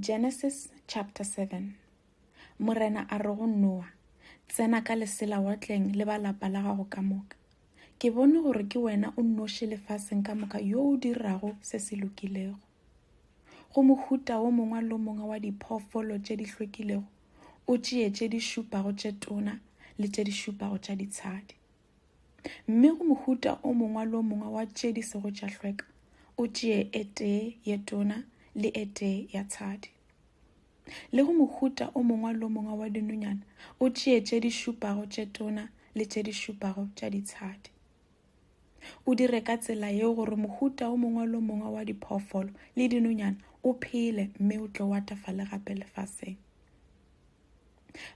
Genesis chapter 7 Morena a re go Noa, Tsena ka lesela watleng le ba lapa la gago ka moka. Ke bone gore ke wena o nnoši lefaseng ka moka yo o dirago se se lokilego. Go mohuta wo mongwe lo mongwe wa diphoofolo tše di hlwekilego, o tšee tše di šupago tše tona le tše di šupago tša ditshadi. Mme go mohuta o mongwe le o mongwe wa tše di sego tša hlweka o tšee e tee ye tona le e tee ya tshadi. Le go mohuta o mongwe le o mongwe wa dinonyana o tšee tše di šupago tše tona le tše di šupago tša ditshadi. O dire ka tsela yeo gore mohuta o mongwe le o mongwe wa diphoofolo le dinonyana o phele mme o tlo watafale gape lefaseng.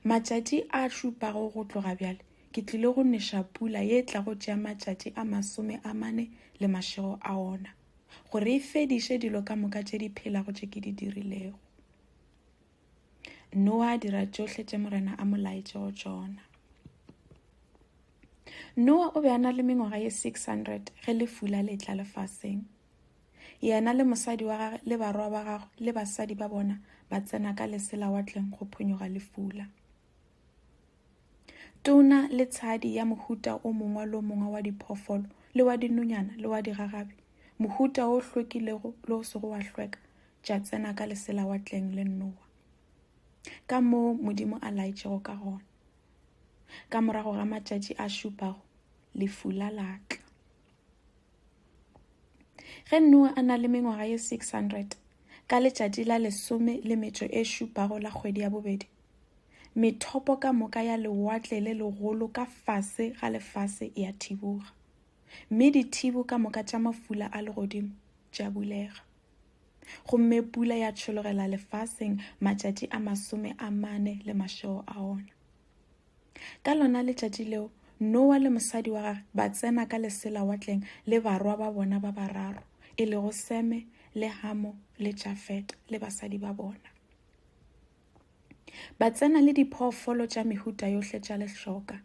Matšatši a šupago go tloga bjale ke tlile go neša pula ye e tlago tšea matšatši a masome a mane le mašego a ona, gore e fediše dilo ka moka tše di phelago tše ke di dirilego. Noa a dira tšohle tše Morena a mo laetšego tšona. Noa o be a na le mengwaga ye 600 ge lefula le tla lefaseng. Yena le mosadi wa gage le barwa ba gagwe le basadi ba bona ba tsena ka leselawatleng go phonyoga lefula. Tona le tshadi ya mohuta o mongwe le o mongwe wa diphoofolo le wa dinonyana le wa digagabi, mohuta o hlwekilego le o sego wa hlweka, tša tsena ka leselawatleng le Noa. Ka moo Modimo a laetšego ka gona. Ka morago ga matšatši a šupago, lefula la tla. Ge Noa a na le mengwaga ye 600, ka letšatši la lesome le metšo e šupago la kgwedi ya bobedi, methopo ka moka ya lewatle le legolo ka fase ga lefase ya thiboga, mme dithibo ka moka tša mafula a legodimo tša bulega. Gomme pula ya tšhologela lefaseng matšatši a masome a mane le mašego a ona. Ka lona letšatši leo, Noa le mosadi wa gage ba tsena ka lesela watleng le barwa ba bona ba bararo, e lego Seme le Hamo le Jafeta le basadi ba bona. Ba tsena le diphoofolo tša mehuta yohle tša lehloka,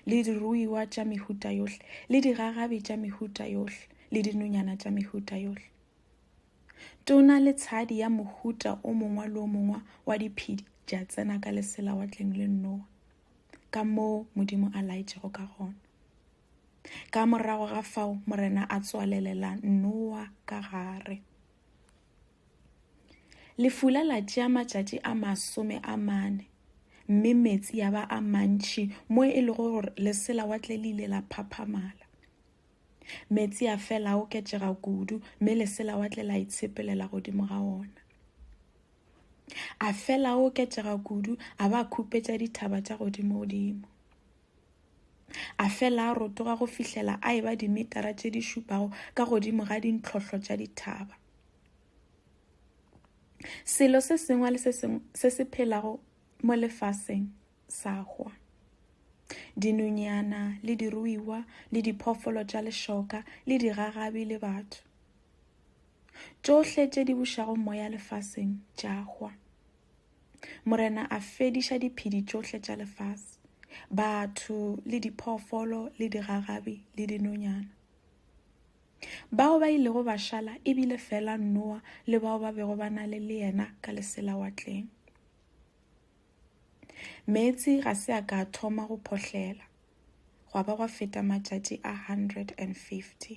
le diruiwa tša mehuta yohle, le digagabi tša mehuta yohle, le dinonyana tša mehuta yohle. Tona le tshadi ya mohuta o mongwe le o mongwe wa diphedi di a tsena ka lesela watleng le nnowa ka moo modimo a laetšego ka gona ka morago ga fao morena a tswalelela nnowa ka gare lefula la tšea matšatši a masome a mane mme metsi ya ba a mantši mo e lego gore lesela watle le ile la phaphamala Meetse a fela a oketšega kudu, mme leselawatle la itshepelela godimo ga ona. A fela a oketšega kudu, a ba khupetša dithaba tša godimo-godimo. A fela a rotoga go fihlela a eba dimetara tše di šupago ka godimo ga dintlhohlo tša dithaba. Selo se sengwe le se sengwe se se phelago mo lefaseng sa hwa. Dinonyana le diruiwa le diphoofolo tša lešoka le digagabi le batho. Tšohle tše di bušago moya lefaseng tša hwa. Morena a fediša diphedi tšohle tša lefase, batho le diphoofolo le digagabi le dinonyana. Bao ba ilego ba šala e bile fela Noa le bao ba bego ba na le le yena ka leselawatleng. Meetse ga se a ka a thoma go phohlela, gwa ba gwa feta matšatši a 150.